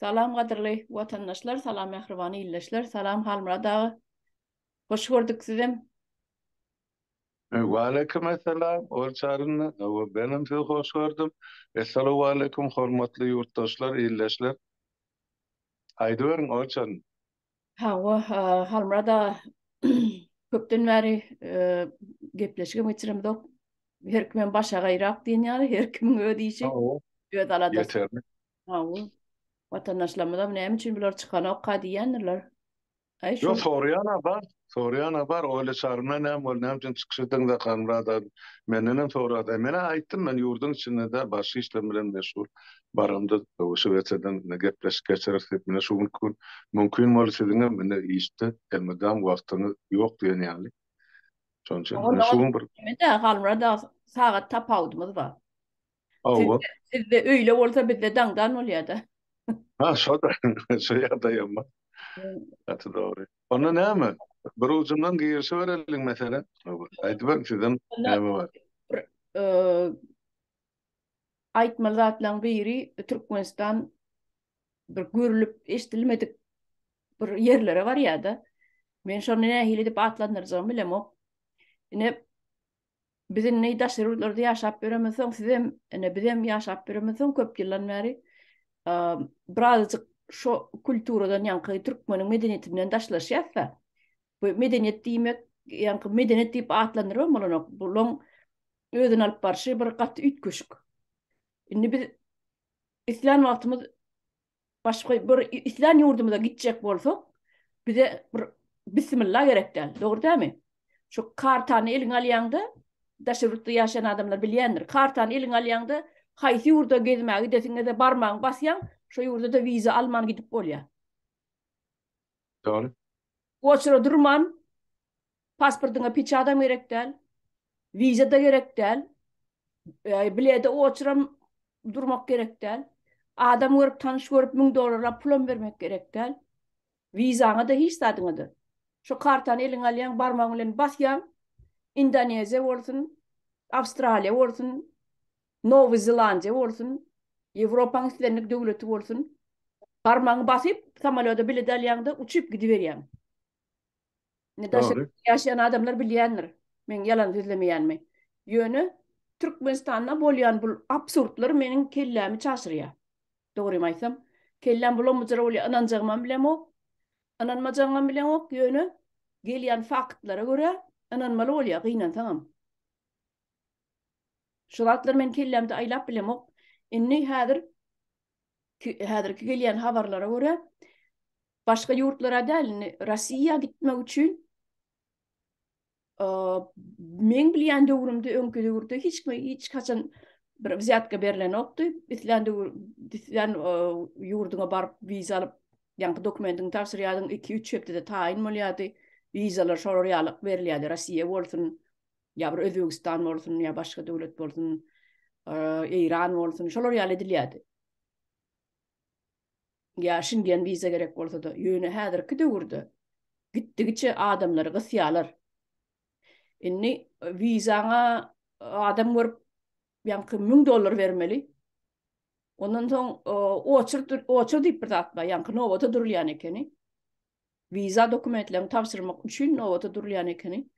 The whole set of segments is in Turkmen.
Salam gadyrly watandaşlar salam mähriban ildeşler salam Halmyrat aga hoş gördük sizem. Waleýkim essalam Orç arynda hawa benem sizi hoş gördüm Essalawaleýkim hormatly ýurtdaşlar ildeşler Aýdyberiň Orç arynda. Hawa, Halmyrat aga, köpden bäri gepleşigem geçiremzok. Her kimem başagaýrak diýen ýaly, her kimiň öz işi, öz aladasy. Hawa. Watandaşlarymyzam näme üçin bular çykanokka diýýändirler. Ýok, soraýan adam, Soraýan-a bar, Oýly çaryna näme boldy, näme üçin çykyş etdiň Zakarmyrat aga? Mendenem sorady. Men-ä aýtdym, men ýurduň içinde däl, başga işlerim bilen meşgul. Baramda WSWC-den gepleşik geçireris diýip, ine şu günki gün mümkin boldy. Siziňem indi işde elmydam wagtyňyz ýok diýen ýaly. Şonuň üçin ine şu gün bir. Onda-da Halmyrat aga, sagat tapawudymyz bar. Hawa. Sizde öýle bolsa bizde daňdan bolýada. Ha, şoda, şu ýagdaý hem bar. Gaty dogry. Onda näme? Bir ujundan girişi bereliň meselä. Aýdyberin sizem näme bar. Aýtmaly zatlaň biri Türkmenistan bir görülip eşdilmedik bir ýerlere barýada. Men şony nähili edip atlandyrjagymy bilemok. Ine Biz indi daşary ýurtlarda ýaşap ýöremezsoň, sizem, ine, bizem ýaşap ýöremezsoň köp ýyldan bäri birazajyk şo kulturadan, ýaňky türkmeniň medeniýetinden daşlaşýas-da. Bu medeniýet diýmek, ýaňky medeniýet diýip atlandyrybam bolanok. Bulaň özüni alyp barşy bir gaty üýtgeşik. Indi biz islän wagtymyz Başga bir islän ýurdumyza gitjek bolsak, bize bir bismilla gerek däl, dogry dälmi? Şu kartany eliňe alýaňda, daşary ýurtda ýaşaýan adamlar bilýändir, kartany eliňe alýaňda, haýsy ýurda gezmä gidesiňde-de barmagyňy basýaň, şo ýurda-da wiza alman gidip bolýar. Dogry. Oçura durman, Pasportyňa peçadam gerek däl, wiza-da gerek däl, bilede oçuram durmak gerek däl, adam görüp, tanyş görüp müň dollarlap pulam bermek gerek däl. Wizaňa-da, hiç zadyňa-da. Şu kartany eliňe alýaň, barmagyň bilen basýaň, Indoneziýa bolsun, Awstraliýa bolsun, Nowy Zelandiýa bolsun, Ýewropaň islendik döwleti bolsun, barmagyňy basyp, samolýoda bilet alýaň-da, uçup gidiberýäň. Indi daşary Dogry. ýurtda ýaşaýan adamlar bilýändir, men ýalan sözlemeýänmi. Ýöne Türkmenistanda bolýan bu absurdlar meniň kellämi çaşyrýar. Dogrymy aýtsam, kelläm bulam-bujur bolýar, ynanjagymam bilemok, ynanmajagymam bilemok, ýöne gelýän faktlara görä ynanmaly bolýar, gynansaňam. Şu zatlar meniň kellämde aýlap bilemok. Indi häzir Häzirki gelýän habarlara görä, başga ýurtlara däl, indi Rossiýa gitmek üçin meň bilýän döwrümde, öňki döwürde hiç kime hiç haçan bir wzýatka berlenokdy. Islän döwür, islän ýurduňa baryp wiza alyp, ýaňky dokumentiňi tabşyrýardyň, iki-üç hepdede taýyn bolýardy. Wizalar şolar ýaly berilýärdi, Rossiýa bolsun, ýa bir Özbegistan bolsun, ýa başga döwlet bolsun, Eýran bolsun, şolar ýaly edilýärdi. Ýa Şingen wiza gerek bolsa-da, ýöne häzirki döwürde gitdigiçe adamlary gysýarlar. Indi wizaňa adam görüp, ýaňky 1000 dollar bermeli. Ondan soň oçur, oçur diýip bir zat bar, ýaňky nobata durulýan ekeni. Wiza dokumentlerini tabşyrmak üçin nobata durulýan ekeni.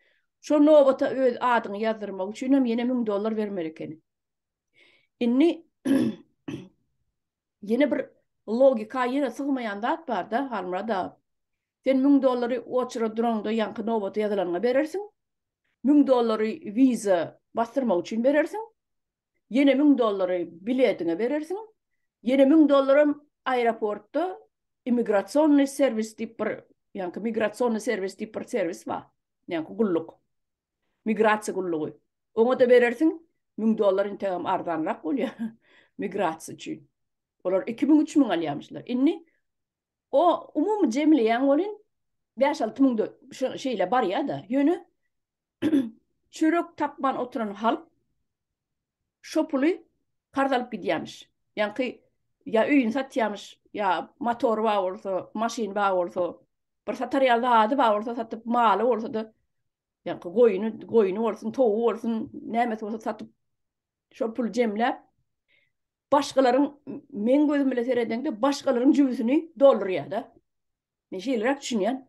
Şol nobata öz adyňy ýazdyrmak üçin hem ýene müň dollar bermeli ekeni. Indi ýene bir logika ýene sygmaýan zat bar-da, Halmyrat aga. Sen müň dollary oçera duraňda ýaňky nobata ýazylanyňa berersiň. Müň dollary wiza basdyrmak üçin berersiň. ýene müň dollary biletiňe berersiň, ýene müň dollaram aeroportda immigrasionnyý serwis diýip bir, ýaňky migrasionnyý serwis diýip bir serwis bar, ýaňky gulluk, migrasiýa gullugy, oňa-da berersiň, müň dollar integam arzanrak bolýar migrasiýa üçin. Olar iki müň, üç müň alýarmyşlar. Indi o umumy jemleýäň welin, bäş-alty müň şeýle barýar-da. Ýöne çörek tapman oturan halk şo puly karz alyp gidýämiş. Ýaňky ýa öýüni satýamyş, ýa motory bar bolsa, maşyny bar bolsa, bir satar ýa zady bar bolsa satyp, maly bolsa-da, ýaňky goýny, goýny bolsun, towugy bolsun, nämesi bolsa satyp, şo puly jemläp, başgalaryň, meň gözüm bilen seredeňde, başgalaryň jübüsini doldurýar-da. Men şeýleräk düşünýän.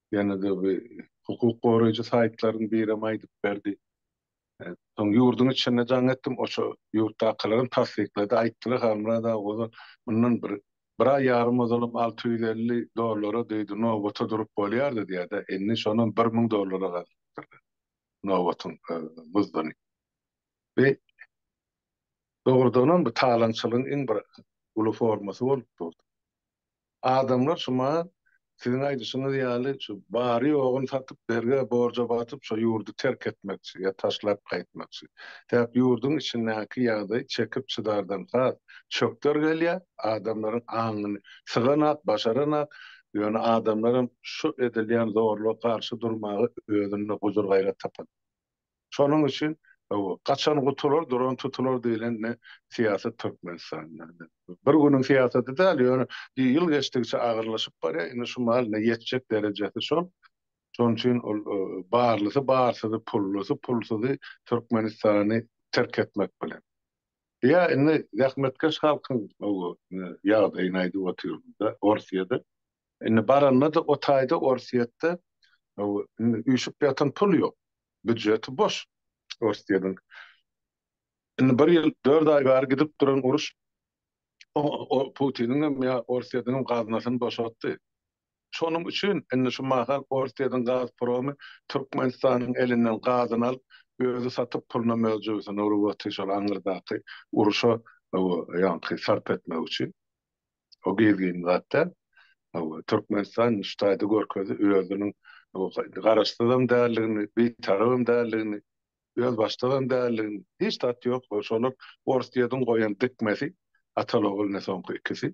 Ýene-de bu hukuk goraýjy saýtlaryň birem aýdyp berdi. Soň ýurduň içinde jaň etdim, oça ýurtdakylaram tassyklady, aýtdylar, Halmyrat aga ozal, mundan bir bir aý ýarym ozalam alty ýüz elli dollara diýdi, nobata durup bolýardy diýýär-de, indi şonam bir müň dollara gazypdyr nobatyň muzdyny. Bu, dogrudanam, bu talaňçylygyň iň bir uly formasy bolup durdy. Adamlar şuma siziň aýdyşyňyz ýaly şu bary ýoguny satyp berge borja batyp şo ýurdy terk etmekçi ýa taşlap gaýtmakçy. Sebäp ýurdyň içindäki ýagdaý çekip çydardan has çökder gelýä, adamlaryň aňyny syganak, başaranak, ýöne adamlaram şu edilýän zorluga garşy durmaga özünde gujur-gaýrat tapan. Şonuň üçin gaçan gutular, duran tutular diýlen ne syýasat Türkmenistanda. Bir günüň syýasaty däl, ýöne ýyl geçdigiçe agyrlaşyp barýar. Indi şu mahaly ine ýetjek derejesi şol. Şonuň üçin ol barlysy barsyzy, pullusy pulsuzy Türkmenistany terk etmek bilen. Ýa indi zähmetkeş halkyň ýagdaýyny aýdyp otyryn-da Orsyýada. Indi baranda-da o taýda Orsýetde üýşüp ýatan pul ýok. Býudžeti boş Orsýediň. Indi bir ýyl dört aý bäri gidip duran uruş Putiniň hem ýa Orsýediň hem gaznasyny boşatdy. Şonuň üçin indi şu mahal Orsýediň gaz promy Türkmenistanyň elinden gazyny alyp, özi satyp puluna möjübisini urup otyr şol aňyrdaky uruşa ýaňky sarp etmek üçin. O gizlin zat däl. Türkmenistan ştaýda görkezdi özüniň garaşsyzam däldigini, bitarabam däldigini, özbaşdagam däldigini. Hiç zat ýok. Şolar Orsýetiň goýan dikmesi, ata-ogul-ine soňky ikisi.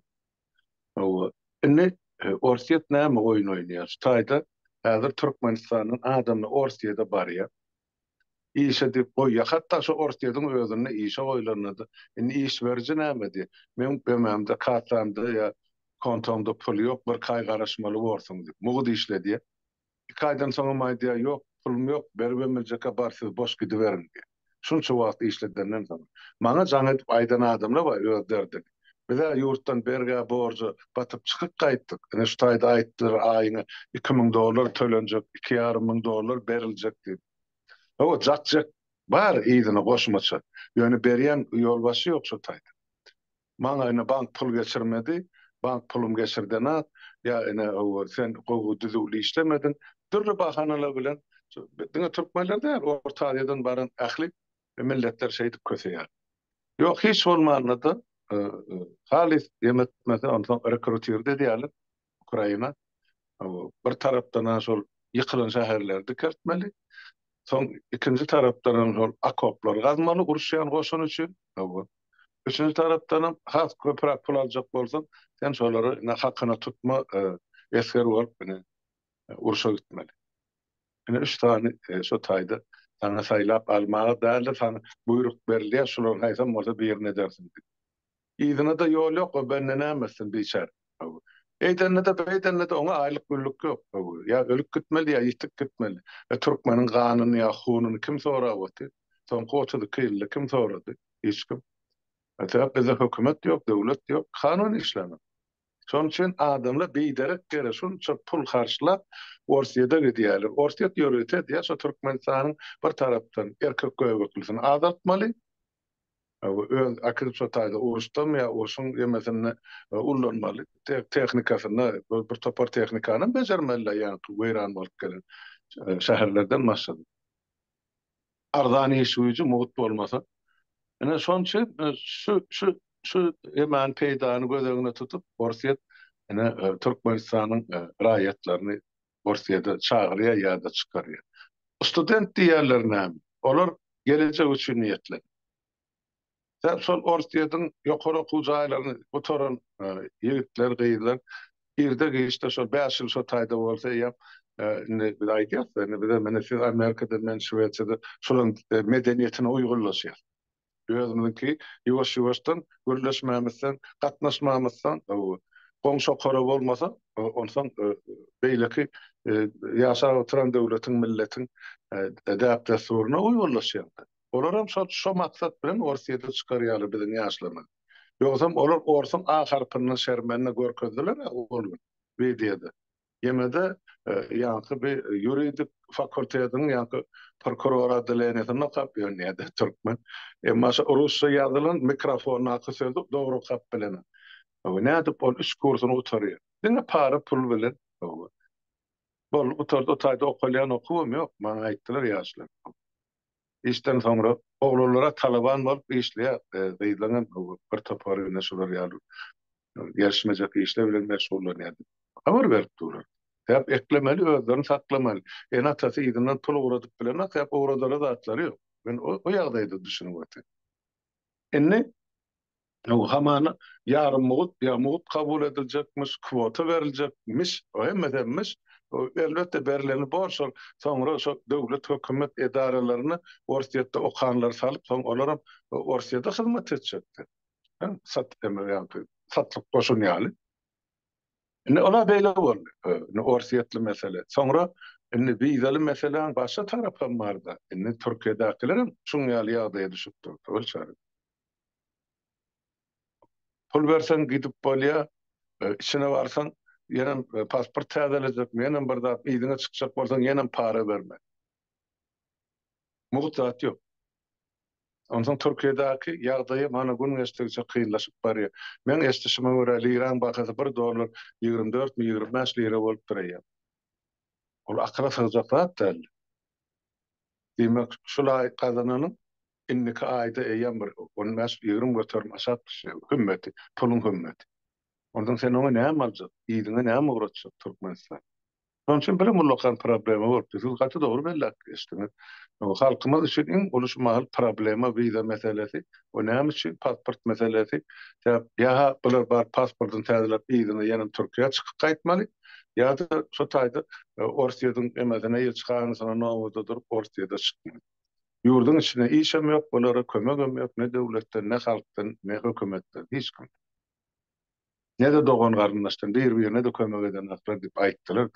Hawa, indi Orsýet näme oýun oýnaýar? Ştaýda häzir Türkmenistanyň adamlar Orsýete barýar. Işe dip goýýa. Hatda şo Orsýediň özünde işe goýlanda-da, indi iş beriji näme diýýä, Meň BM-de, kassamda ýa kontomda pul ýok, birki aý garaşmaly borsuň diýip. Mugt işle diýýä. Iki aýdan soňam aýdýar, Ýok, pulum ýok, beribem biljek-ä, bar siz boş gidiberiň diýýä. Şunça wagt işledenden soň. Maňa jaň edip aýdan adamlar bar öz derdini. Biz-ä ýurtdan bergä borja batyp çykyp gaýtdyk. Ine şu taýda aýtdylar aýyňa iki müň dollar tölenjek, iki ýarym müň dollar beriljek diýip. Hawa, jak-jak bar yzyna goşmaça. Ýöne berýän ýolbaşçy ýok şu taýda. Maňa ine bank pul geçirmedi. Bank pulum geçirdenok. Ýa ine hawa, sen gowy düzüwli işlemediň. Dürli bahanalar bilen, diňe türkmenler däl, Orta Aziýadan baran ähli Ýa milletler şeýdip köseýär. Ýok, hiç bolmanda-da, halys ýem etmese, onsoň rekrutirdi edýärler Ukraina. Bir tarapdan-a şol ýykylan şäherleri dikeltmeli, soň ikinji tarapdanam şol okoplar gazmaly uruşýan goşun üçin. Hawa. Üçünji tarapdanam has köpräk pul aljak bolsaň, sen şolary ine hakyna tutma esger bolup ine urşa gitmeli. Ine üç sany şu taýda saňa saýlap almaga däldir, saňa buýruk berilýär, şularyň haýsam bolsa birini edersiň diýip. Yzyna-da ýol ýok, o bende näme etsin, biçäre. Eýdende-de, beýdende-de oňa aýlyk-günlük ýok. Ýa ölüp gitmeli, ýa ýitip gitmeli. E, türkmeniň ganyny ýa hununy kim sorap otyr? Soňky otuz iki ýylda kim sorady? Hiç kim. Sebäp bizde hökümet ýok, döwlet ýok, kanun işlänok. Şonuň üçin adamlar biderek ýere şunça pul harçlap Orsýede gidýärler. Orsýet ýörite diýýär, şo Türkmenistanyň bir tarapdan erkek göbeklisini azaltmaly, öz äkidip şo taýda uruşdam ýa urşuň ýemesinde ullanmaly, tehnikasynda bir topar tehnikanam bejermeli-le ýaňky weýran bolup gelen şäherlerden başlanyp. Arzan iş güýji mugt bolmasa. Ine şoň üçin şu şu şu emany peýdany göz öňüne tutup Orsýet ine Türkmenistanyň raýatlaryny Orsýede çagyrýar ýa-da çykarýar. Student diýýärler näme? Olar gelejek üçin niýetlenip. Sebäbi şol Orsýetiň ýokary okuw jaýlaryny gutaran ýigitler, gyzlar irde-giçde şol bäş ýyl şo taýda bolsa eýýäm indi biz aýdýas-da, indi bize meni siz Amerikada, men Şwesiýada şolaryň medeniýetine uýgunlaşýas. Özümiziňki ýuwaş-ýuwaşdan gürleşmemizsoň, gatnaşmamyzsoň, goňşy okara bolmasa, onsoň beýleki ýaşap oturan döwletiň, milletiň däp-dessuryna uýgunlaşýas-da. Olaram şol şo maksat bilen Orsyýede çykarýarlar biziň ýaşlaryny. Ýogsam olar orsuň A harpyndan şermenini görkezdiler a ol gün wideoda. Ýene-de ýaňky bi ýuridik fakultetiň ýaňky prokuror oddaleniýesinde okap ýörün ýa-da türkmen. Emma şo rusça ýazylan mikrofondaky sözi dogry okap bilenok. Hawa nädip ol üç kursuny gutarýar. Diňe para pul bilen. Hawa. Boldy gutardy o taýda okalýan okuwam ýok maňa aýtdylar ýaşlar. Işden soňra oglanlara talaban bolup işleýär. Gyzlaň hem bir topary ine şular ýaly gelişmejek işler bilen meşgullanýar diýip habar berip durlar. Däp eklemeli, özlerini saklamaly. Ene-atasy yzyndan pul ugradyp bilenok, däp ugradara zatlary ýok. Men o ýagdaýda düşünip otyryn. Indi Hamana ýarym mugt ýa mugt kabul ediljekmiş, kwota beriljek miş, hemmesem-miş. Elbetde berileni bor şol. Soňra şo döwlet hökümet edaralaryna Orsýetde okanlary salyp, soň olaram Orsýede hyzmat etjekdi. Sat eme ýaňky satlyk goşun ýaly. Indi ola beýle boldy. Indi Orsýetli mesele. Soňra indi wizaly meseläň başga tarapam barda. Indi Türkiýedäkilerem şuň ýaly ýagdaýa düşüp durdy. Ol çary. Pul berseň gidip bolýa, içine barsaň ýenem pasport täzelejekmi, ýenem bir zat yzyňa çykjak bolsaň ýenem para berme. Mugt zat ýok. Onsoň Türkiýedäki ýagdaýam hany gün geçdikçe kynlaşyp barýar. Meň eşdişime görä liraň bahasy bir dollar ýigrimi dörtmi ýigrimi bäş lira bolupdyr eýýäm. Ol akyla sygjak zat däldi. Diýmek şul aý gazananyň Indiki aýda eýýäm bir on bäş, ýigrimi göterim aşak düşýär hümmeti, puluň hümmeti. Ondan sen oňa näme aljak, yzyňa näme ugratjak Türkmenistan? Şonuň üçin birem ullakan problema bolupdyr. Siz gaty dogry belläp geçdiňiz. Halkymyz üçin iň uly şu mahal problema wiza meselesi. O näme üçin pasport meselesi? Sebäp ýa-ha bular baryp pasportyny täzeläp yzyna ýene Türkiýä çykyp gaýtmaly, ýa-da şu taýda Orsýetiň emesine, ilçihanasyna nobada durup Orsýete çykmaly. Ýurduň içinde işem ýok, olara kömegem ýok, ne döwletden, ne halkdan, ne hökümetden, hiç kimden. Ne-de dogan-garyndaşdan, bir-birine-de kömek edenoklar diýip aýtdylar.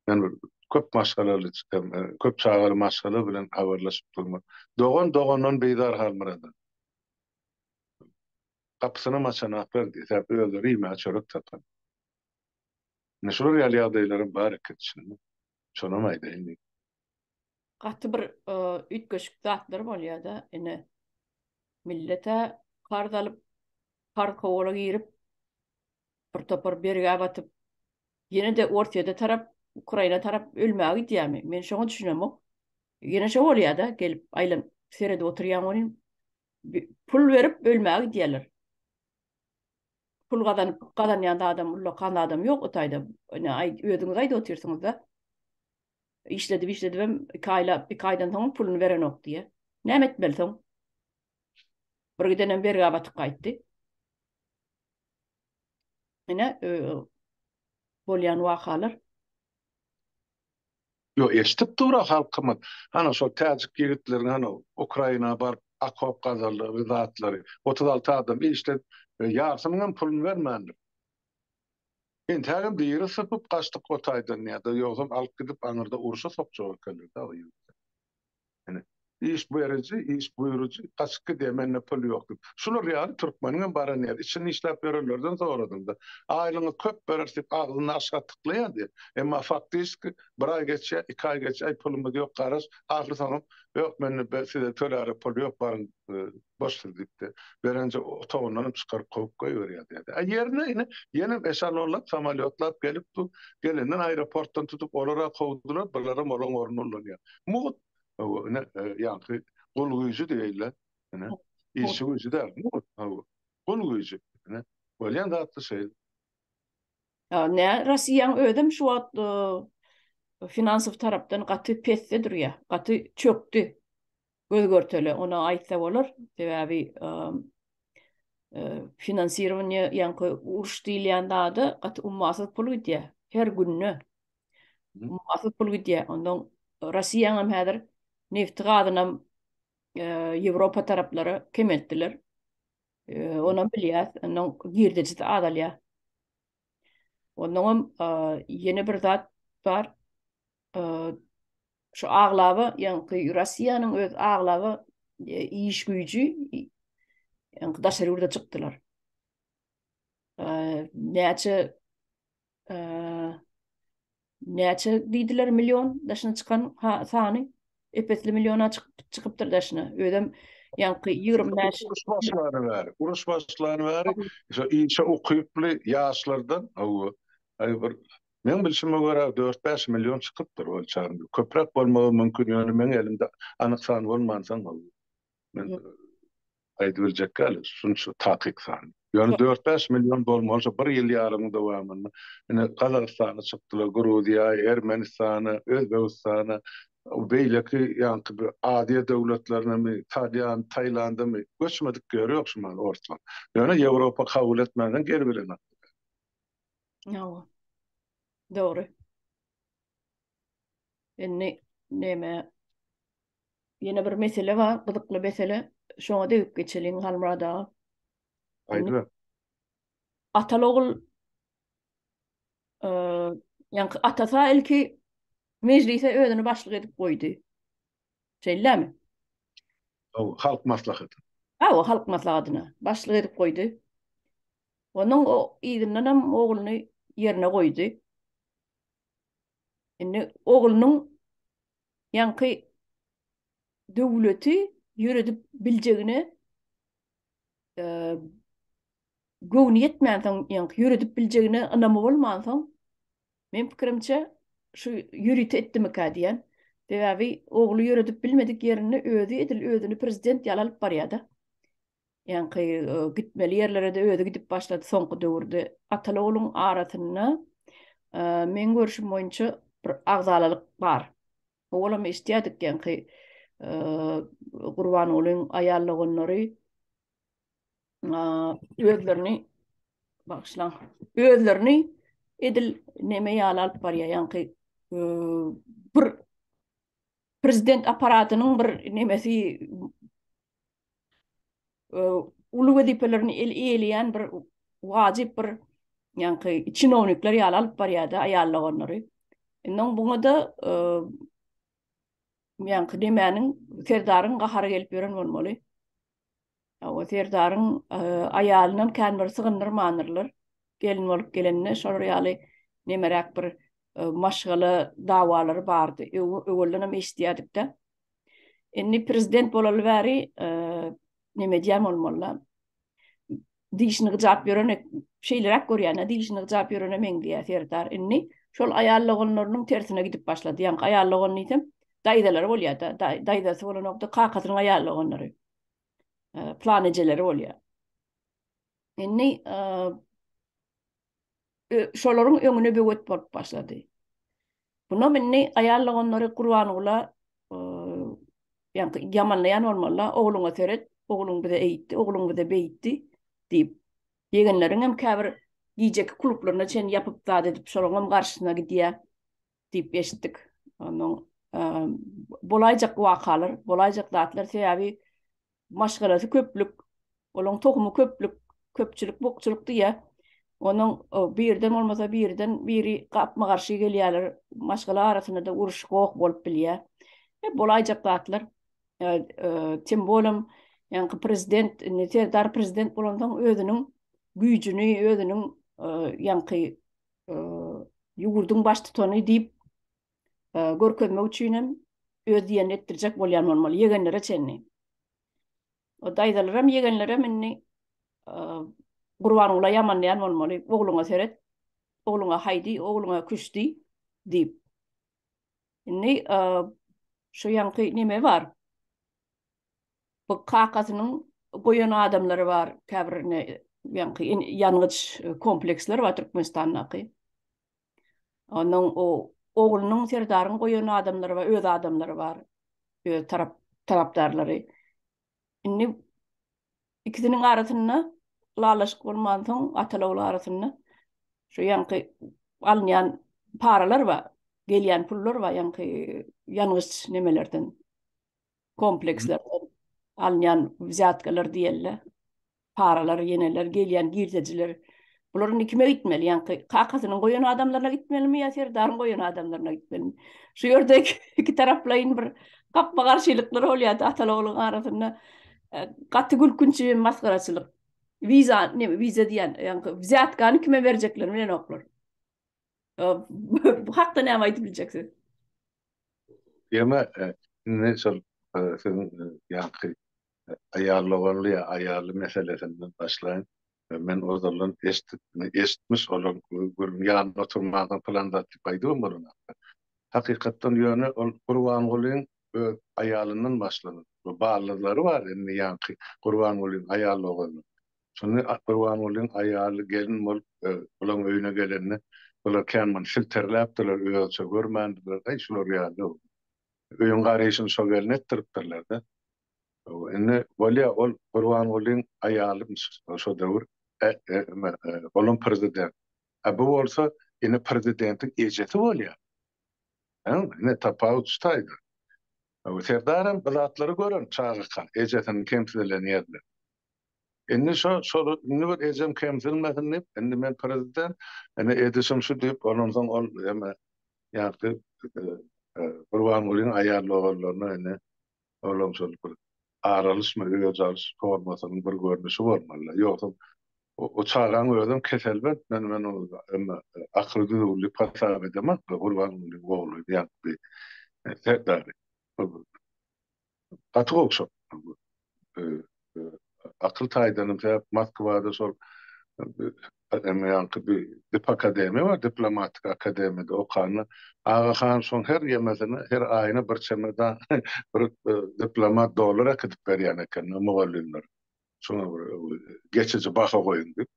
Men bir köp maşgalaly, köp çagaly maşgala bilen habarlaşyp durma. Dogan dogandan bizar Halmyrada. Gapysynam açanoklar diýdi. Sebäbi özleri iýmäge çörek tapany. Ine şular ýaly ýagdaýlaram bar eken içinde. Şonam aýdaýyn diýip. Gaty bir üýtgeşik zatlar bolýada ine. Millete karz alyp, karz kowala girip, bir topar bergä batyp, ýene-de Orsýede tarap, Ukraina tarap ölmäge gidýärmi? Men şoňa düşünemok. Ýene şo bolýada gelip aýlanyp seredip oturýan welin pul berip ölmäge gidýärler. Pul gazanyp gazanýan zadam ullakan zadam ýok o taýda. Ine aý özüňiz aýdyp otyrsyňyzda. Işledip işledibem iki aýlap iki aýdan soňam puluny berenok diýýä. Näme etmeli soň? Bir gidenem bergä batyp gaýtdy. Ine bolýan wakalar. Ýok, eşidip dur-a halkymyz. Hany şol täjik ýigitleriň hany Ukraina baryp okop gazandygy zatlary. Otuz alty adam işledi, ýarsynyň hem puluny bermändir. Entägem diri sypyp gaçdyk o taýdan ýa-da ýogsam alyp gidip aňyrda urşa sokjak ekenler-dä o ýigitleri. Ýöne iş beriji, iş buýrujy gaçyp gidýär, mende pul ýok diýip. Şular ýaly türkmeniň hem baran ýeri. Içini işläp ýörenlerden soradyňda, aýlygyňy köp bereris diýip agzyny aşak tyklaýar diýip. Emma faktiski bir aý geçýär, iki aý geçýär, aý pulumyz ýok garaş, ahyrsoňam ýok mende size töläre pul ýok baryň Boşdur, diýipdi. Berenje otagyndanam çykaryp kowup goýberýär, diýdi. A ýerine ine, ýenem eşalonlap, samolýotlap gelip dur. Gelenden aeroportdan tutup, olar-a kowdular, bularam olaň ornuny ulanýar. Mugt! Hawa, ine, ýaňky gul güýji diýeýinler. Ine, işçi güýji däl, mugt, hawa, gul güýji. Ine, bolýan zat-da şeýle. A nä, Rossiýaň özem şu wagt finansow tarapdan gaty pesde durýar, gaty çökdi. göz görtele ona aýtsa bolar sebäbi finansirowaniýe ýaňky uruş diýilýän zada gaty ummasyz pul gidýär her günde ummasyz pul gidýär ondan rossiýaňam häzir nefti gazynam ýewropa taraplara kemeltdiler onam bilýäs ondan girdejisi azalýar ondanam ýene bir zat bar şu aglaba ýaňky Russiýanyň öz aglaba e, iş güýji ýaňky daşary ýurda çykdylar. Näçe näçe diýdiler million daşyna çykan sany epesli milliona çykyp çykypdyr daşyna. Özem ýaňky 25 uruş başlary bar. Uruş başlary bar. Şu işe ukyply ýaşlardan hawa. Aý bir Meň bilşime görä dört-bäş million çykypdyr ölçägim ýok. Köpräk bolmagam mümkin ýöne meň elimde anyk san bolmansoň ol men aýdyp biljek däl şunça takyk san. Ýöne dört-bäş million bolmalyja bir ýyl ýarymyň dowamynda ine Gazagystana çykdylar, Gruziýa, Ermenistana, Özbegistana, beýleki ýaňky bir Aziýa döwletlerinemi, Talýan, Taýlandamy göçmedik ýeri ýok şu mahaly orslaryň. Ýöne Ýewropa kabul etmänsoň geri bilenoklar. Hawa. Dogry. Indi näme? Ýene bir mesele bar, gyzykly mesele. Şoňa degip geçeliň Halmurad aga. Aýdyň. Ataly ogul ýa-da atasa ilki mejlise özüni başlyk edip goýdy. Şeýlemi? Hawa, halk maslahaty. Hawa, halk maslahatyna başlyk edip goýdy. Onuň yzyndanam ogluny ýerine goýdy. Indi oglunyň ýaňky döwleti ýöredip biljegine göwni ýetmänsoň, ýaňky ýöredip biljegine ynamy bolmansoň, meň pikirimçe, şu ýörite etdimikä diýýän. Sebäbi ogly ýöredip bilmedik ýerinde özi edil özüni prezident ýaly alyp barýar-da. Ýaňky gitmeli ýerlere-de özi gidip başlady soňky döwürde. Ataly-ogluň arasynda meň görşüm boýunça bir agzalalyk bar. Owalam eşitýärdik ýaňky Gurbangulyň aýal doganlary özlerini bagşlaň, özlerini edil neme ýaly alyp barýar, ýaňky bir prezident apparatynyň bir nemesi uly wezipelerini el eýeleýän bir wajyp bir ýaňky çinownikler ýaly alyp barýardy aýal doganlary. Indi oň buňada e, ýaňky demäniň serdaryň gahary gelip ýören bolmaly. O serdaryň e, aýalyndan kän bir sygyndyrmandylar. Gelin bolup gelende şolar ýaly nemeräk bir e, maşgala dawalary bardy. Öwelden hem eşitýärdik-de. Indi prezident bolaly bäri näme edýän ol molla? Dişini gyjap ýörene şeýleräk görýän-ä, dişini gyjap ýörene meňzeýär Serdar. Indi şol aýal doganlarynyň tersine gidip başlady. Ýaňky aýal dogan diýsem, daýzalary bolýar-da, daýzasy bolanok-da, kakasynyň aýal doganlary. Plan ejeleri bolýar. Indi şolaryň öňüne böwet bolup başlady. Munam indi aýal doganlary Gurbangula ýaňky ýamanlaýan bolmalylar, ogluňa seret, ogluň bize eýtdi, ogluň bize beýtdi diýip. Ýegenleriňem käbir gijeki klublaryna çenli ýapyp zat edip, şolaryňam garşysyna gidýär. diýip eşitdik. Ondan bolaýjak wakalar, bolaýjak zatlar sebäbi maşgalasy köplük, olaň tohumy köplük, köpçülik bukçulyk diýýär. Onuň birden bolmasa birden biri gapma garşy gelýärler. Maşgala arasynda da uruş goh bolup bilýär. E, bolaýjak zatlar. Tim bolum, ýaňky prezident, indi Serdar prezident bolansoň özüniň güýjüni, özüniň ýaňky ýurduň baştutany diýip görkezmek üçin hem öz diýenini etdirjek bolýan bolmaly, ýegenlere çenli. O daýzalaram, ýegenlerem indi Gurbangula ýamanlaýan bolmaly, ogluňa seret, ogluňa haýdy, ogluňa küşdi diýip. Indi şu ýaňky neme bar? Bu kakasynyň goýan adamlary bar, käbir ne ýaňky ýangyç kompleksler bar Türkmenistandaky. Onuň o oglunyň Serdaryň goýan adamlary bar, öz adamlary bar, öz tarap tarapdarlary. Indi ikisiniň arasynda ylalaşyk bolmansoň, ataly-ogul arasynda şu ýaňky alynýan paralar bar, gelýän pullar bar ýaňky ýangyç nemelerden. komplekslerden alynýan wzýatkalar diýeli, paralar, ýeneler, gelýän girdejiler, bular indi kime gitmeli? Ýaňky kakasynyň goýan adamlaryna gitmelimi ýa Serdaryň goýan adamlaryna gitmelimi? Şu ýerde iki taraplaýyn bir gapma-garşylyklar bolýardy ataly-ogluň arasynda. Gaty gülkünç hem masgaraçylyk. Wiza, neme, wiza diýýän, ýaňky wzýatkany kime berjeklerini bilenoklar. Bu hakda näme aýdyp biljek siz? Tema indi şol siziň ýaňky aýal doganly ýa aýally meselesinden başlaýyn. Men ozaldan eşdip, eşitmiş bolan gürrüň ýanynda oturmansoň pylan zat diýip aýdybam bolan hakda. Hakykatdan ýöne ol Gurbangulyň öz aýalyndan başlanan we ballyzlary bar indi ýaňky Gurbangulyň aýal doganynyň. Şonda Akgurbangulyň aýaly gelin bolup bulaň öýüne gelende, bular kän muny silterläpdirler, özüçe görmändirler, Aý, şular ýaly öýüň garyşyny şo gelin etdiripdirler-dä. Indi bolýa, ol Gurbangulyň aýalymyş şo döwür, olam prezident. A bu bolsa indi prezidentiň ejesi bolýar. Ine, tapawut şu taýda. Serdarem bu zatlary gören çagaka, ejesiniň kemsilen ýerini. Indi şo, şoly, indi bir ejem kemsilmesin diýip, indi men prezident, indi edişim şu diýip, ondan soň ol ýene ýagty Gurbangulyň aýal-ogullaryna indi olam şol bir aralyşma, özi alyş formasynyň bir görnüşi bolmaly. Ýogsam, o çagaň özem keselbent, men men ony emme akyly düzüwli hasap edemek, Gurbangulyň ogly diýen bir serdary. Gaty gowşak. Akyl taýdanam sebäp Moskwada şol Emm ýaňky bir dip akademiýa bar, diplomatik akademiýada okanda Aga han şoň her ýemesine, her aýyna bir çemedan bir diplomat dollar äkidip berýän eken mugallymlara. Şoňa bir geçiji baha goýuň diýip.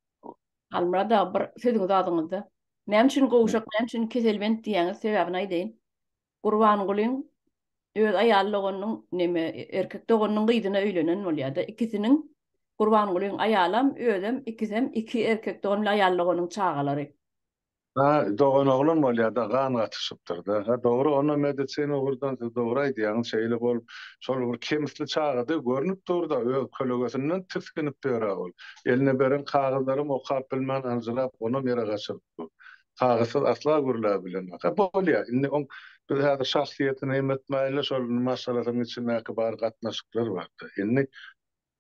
Halmyrat aga bir sözüňizi adyňyzda näme üçin gowşak, näme üçin keselbent diýýäňiz, sebäbini aýdaýyň. Gurbangulyň öz aýal doganynyň neme erkek doganynyň gyzyna öýlenen bolýada ikisiniň Gurbangulyň aýalam özem ikisem iki erkek dogan bilen aýal doganyň çagalary. Ha dogan oglan bolýada gan gatyşypdyrda ha dogry onda medisina ugurdan siz dogry aýdýaňyz şeýle bolup şol bir kemsli çagada görnüp durda öz kölegesinden tisginip ýöra ol eline beren kagyzlaram okap bilmän aljyrap onam ýere gaçyryp dur kagyzsyz asla gürläp bilenok. Hä, bolýar. Indi oň biz häzir şahsyýetini hem ötmäýin-le, şol maşgalasynyň içindäki bar gatnaşyklar bar-da. Indi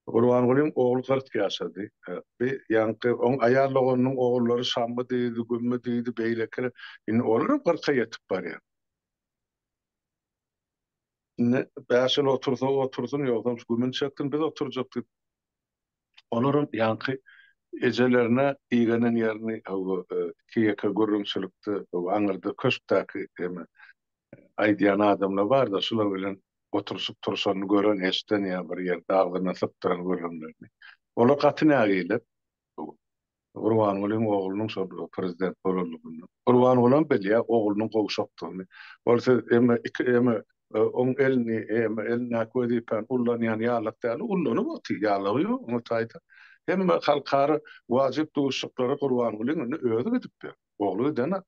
Gurbangulyň ogly kyrk ýaşady. Bi ýaňky oň aýal doganynyň ogullary Şammy diýdi, Gümmi diýdi, beýlekiler. Indi olar hem kyrka ýetip barýar. Indi bäş ýyl otursa otursyn, ýogsam şu Gümini çeksin, biz oturjak diýip, Olaram ýaňky ejelerine igenen ýerini iki-ýeke gürrüňçilikde aňyrda köşkdäki eme aýdýan adamlar barda şular bilen oturyşyp-turşanyny gören eşden ýa bir ýerde agzyna sypdyran gürrüňlerini. Olar gaty nägile. Gurbangulyň oglunyň şol prezident bolandygyny. Gurbangulam bilýär oglunyň gowşakdygyny. Ol siz emme iki emme oň elini emme elindäki wezipäni ullanýan ýalak däl, ullanyp otyr, ýalagy ýok oňa taýdan. Hemme halkara wajyp duşuşyklary Gurbangulyň indi özi gidip ýör. Ogly gidenok.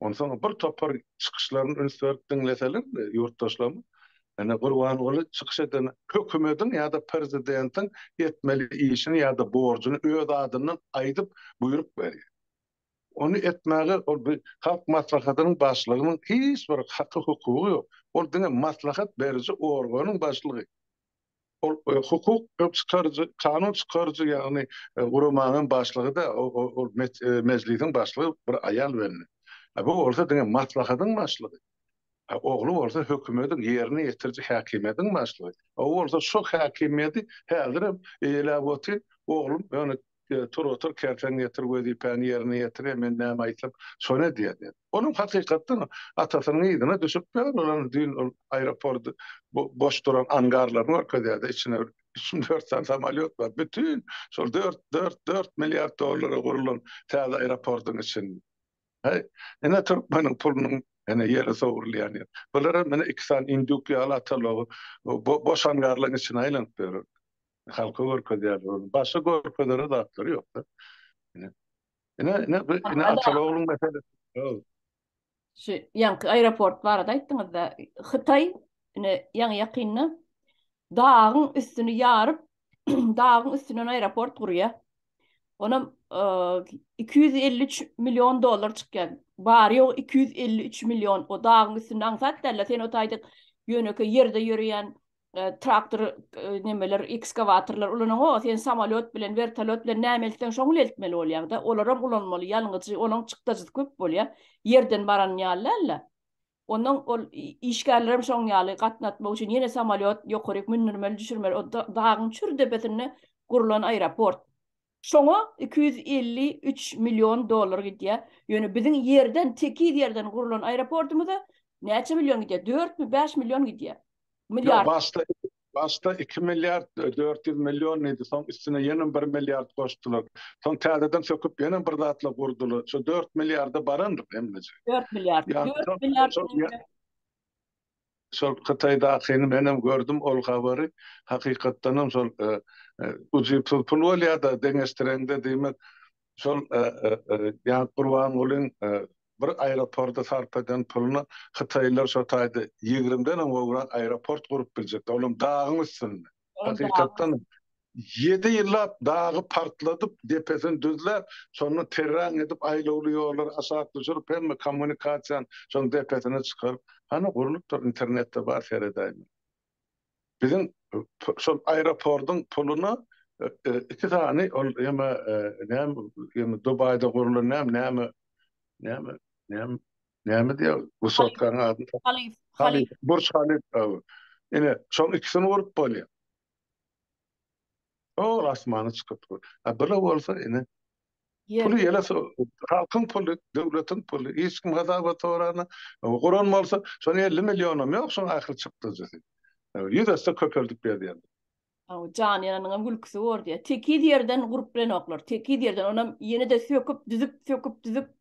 Onsoň bir topar çykyşlaryny üns berip diňleseler ýurtdaşlaryň, ine Gurbanguly çykyş eden hökümediň ýa-da prezidentiň etmeli işini ýa-da borjuny öz adyndan aýdyp buýruk berýär. Ony etmäge ol bir Halk Maslahatynyň başlygynyň hiç bir haky-hukugy ýok. Ol diňe maslahat beriji organyň başlygy. ol hukuk çykaryjy, kanun çykaryjy ýagny guramanyň başlygy-da, ol mejlisiň başlygy bir aýal welin, bu bolsa diňe maslahatyň başlygy. Ogly bolsa hökümediň ýerine ýetiriji häkimiýetiň başlygy. O bolsa şo häkimiýeti häzirem eýeläp otyr, oglum ýöne Tur otur kersen getir wezipäni ýerine ýetir men näme aýtsam şony edýär diýen. Onuň hakykatdan atasynyň yzyna düşüp ýören olar düýn ol aeroport boş duran angarlaryny görkezýärdi içine üç mü dört sany samolýot bar bütin şol dört dört dört milliard dollara gurlan täze aeroportyň için Heý ine türkmeniň pulunyň ene ýere sowrulýan ýer. Bular hem ene iki sany induk ýaly atalagy boş angarlaryň içine aýlanyp ýörer. Halka görkezýärler ony. Başga görkezere zatlary ýok-da. Ine, ine, ine, ine Atal ogluň meselesi. Ýok. Şu ýaňky aeroport barada aýtdyňyz-da, Hytaý ine ýaňy ýakynda dagyň üstüni ýaryp, dagyň üstünden aeroport gurýar. Onam 253 e, million dollar çykýar. Bar ýok 253 million o dagyň üstünde aňsat däl, sen o taýda ýöneke ýerde ýöreýän e, traktor e, nemeler ekskawatorlar ulanaňok sen samolyot bilen vertolyot bilen näme eltseň şoňy eltmeli bolýar da olar hem ulanmaly ýalňyjy olaň çykdajysy köp bolýar ýerden baran ýaly Ondan ol işgärler hem şoň ýaly gatnatmak üçin ýene samolyot ýokaryk mündirmeli düşürmeli o dagyň çür depesinde gurlan aeroport Şoňa iki ýüz elli üç million dollar gidýär. Ýöne biziň ýerden, tekiz ýerden gurlan aeroportumyza näçe million gidýär? Dörtmi, bäş million gidýär. Ýok, başda, başda iki milliard dört ýüz million diýdi, soň üstüne ýenem bir milliard goşdular. Soň täzeden söküp ýenem bir zatlar gurdular. Şo dört milliarda barandyr hemmeje. Dört milliard, dört milliard. Şol Hytaýdakyny menem gördüm ol habary. Hakykatdanam şol ujypsyz pul bolýada deňeşdireňde diýmek şol ýa Gurbangulyň bir aeroporda sarp eden puluna Hytaýlylar şo taýda ýigrimden hem gowrak aeroport gurup biljekler olam dagyň üstünde. Hakykatdan ýedi ýyllap dagy partladyp, depesini düzläp, şonda terraň edip, aýlawly ýollary aşak düşürip, hemme kommunikasiýany şonuň depesine çykaryp, hany gurlupdyr, internetde bar, seredäýiň. Biziň şol aeroportyň puluna iki sany ol ýeme näme Dubaýda gurlan näme näme näme näme Näme diýýär? Wysotkaň ady? Halyf. Halyf. Burç Halyf. Ine, şoň ikisini urup bolýar. Ol asmana çykyp dur. A bile bolsa ine. Puly ýele halkyň puly, döwletiň puly. Hiç kim hasaba sorana. Guran bolsa, şoň 50 millionam ýok, şoň ahyry çykdajysy. Ýüz esse köpeldip berýär. Hawa, jany ýananyňam gülküsi bor diýýär. Tekiz ýerden gurup bilenoklar. Tekiz ýerden, onam ýene-de söküp, düzüp, söküp, düzüp.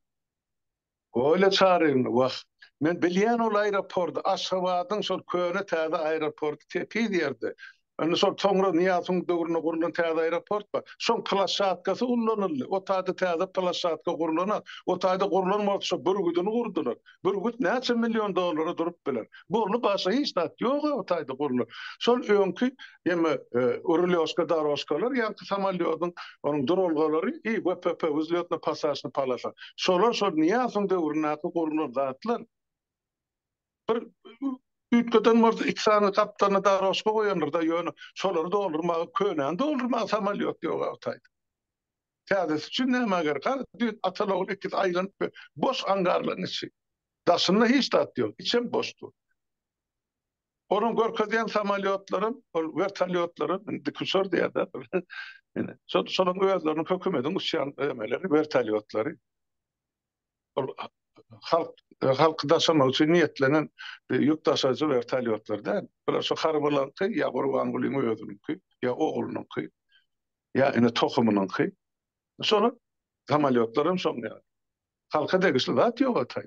Olýa Çaryýewna, Wah, men bilýän ol aeroporty, Aşgabadyň şol köne-täze aeroporty tekiz ýerde. Indi şol soňra Nyýazowyň döwründe gurlan täze aeroport bar. Şoň plashatkasy ullanyldy. O taýda täze plashatka gurlana, o taýda gurlan bolsa, bürgüdini gurdular. Bürgüt näçe million dollara durup biler. Boldy, başga hiç zat ýog-a o taýda gurlan. Şol öňki Ýöne rulýoşka dorožkalar ýa-da samolýodyň onuň duralgalary i VPP, wzlýotna pasažna polasa. Şolar şol Nyýazowyň döwründäki gurlan zatlar. Bir üýtgeden bolsa iki sany gapdalyna dorožka goýandyr-da, ýöne şolary doldurmaga, könäni doldurmaga samolýot ýok-a o taýda. Täzesi üçin nämä gerek? Hany düýn atal-ogul ikisi aýlanyp boş angarlaryň içi. Daşynda hiç zat ýok, içem boş dur. Onuň görkezýän samolýotlary, ol wertolýotlary, dikuçar diýýärler. Ine, şol, şolaryň özleriniň hökümetiň uçýan öýmeleri, wertolýotlary. Ol halk, halky daşamak üçin niýetlenen e, ýük daşaýjy wertolýotlar däl. Bular şu harbylaryňky ýa Gurbangulyň özüniňki, ýa oglunyňky, ýa ine tohumynyňky. Şolar samolýotlar hem şoň ýaly. Halka degişli zat ýok ataý.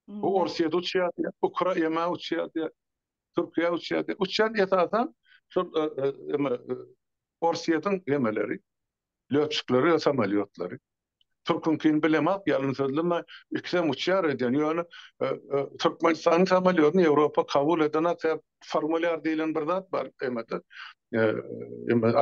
Bu Orsýet uçýar, Ukra ýa uçýar, Türkiýe uçýar. Uçýan esasan şol Orsýetiň gemeleri, lötçikleri ýa samolýotlary. Türküňkini bilemok, ýalyn sözleme, ikisem uçýar edýän. Ýöne Türkmenistanyň samolýotyny Ýewropa kabul eden atyp, formulýar diýlen bir zat bar emede,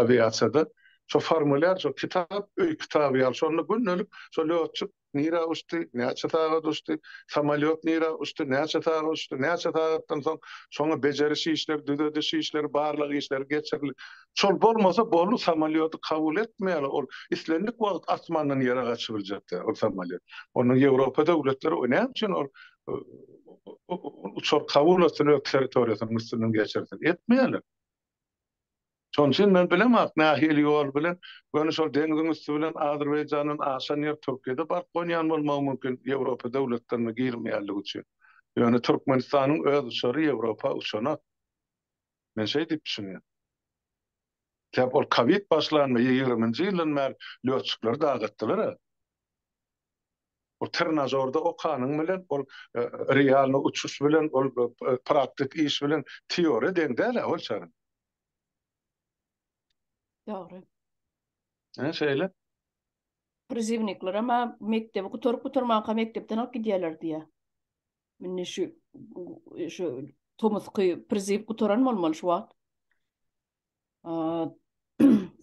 awiasiýada. Şo formulýar, şo kitap, öý kitaby ýaly, şonda gündelik şo lötçik nirä uçdy, näçe sagat uçdy, samolýot nirä uçdy, näçe sagat uçdy, näçe sagatdan soň şoňa bejeriş işleri, düzediş işleri, barlag işleri geçirildi. Şol bolmasa boldy, samolýody kabul etmeýärler, ol islendik wagt asmandan ýere gaçyp biljek däl ol samolýot. Onda Ýewropa döwletleri o näme üçin ol uçar kabul etsin, öz territoriýasynyň üstünden geçirsin? Etmeýärler. Şonuň üçin men bilem ak nähili ýol bilen, göni şol deňziň üsti bilen Azerbaýjandan aşan ýer Türkiýede baryp gonýan bolmagy mümkin, Ýewropa döwletlerine girmeýänligi üçin. Ýöne Türkmenistanyň öz uçary Ýewropa uçanok. Men şeý diýip düşünýän. Sebäp ol kowid başlanda ýigriminji ýyldan bäri lötçikleri dagy atdylar a. Ol trenažorda okanyň bilen ol realny uçuş bilen ol praktik iş bilen teoriýa deň däl a ol çagyň. Dogry. Hä, şeýle. Prizivnikler ama mekdebi gutaryp gutarmanka mekdepden alyp gidýärler diýýär. Mine şu şu tomusky priziw gutaran bolmaly şu wagt.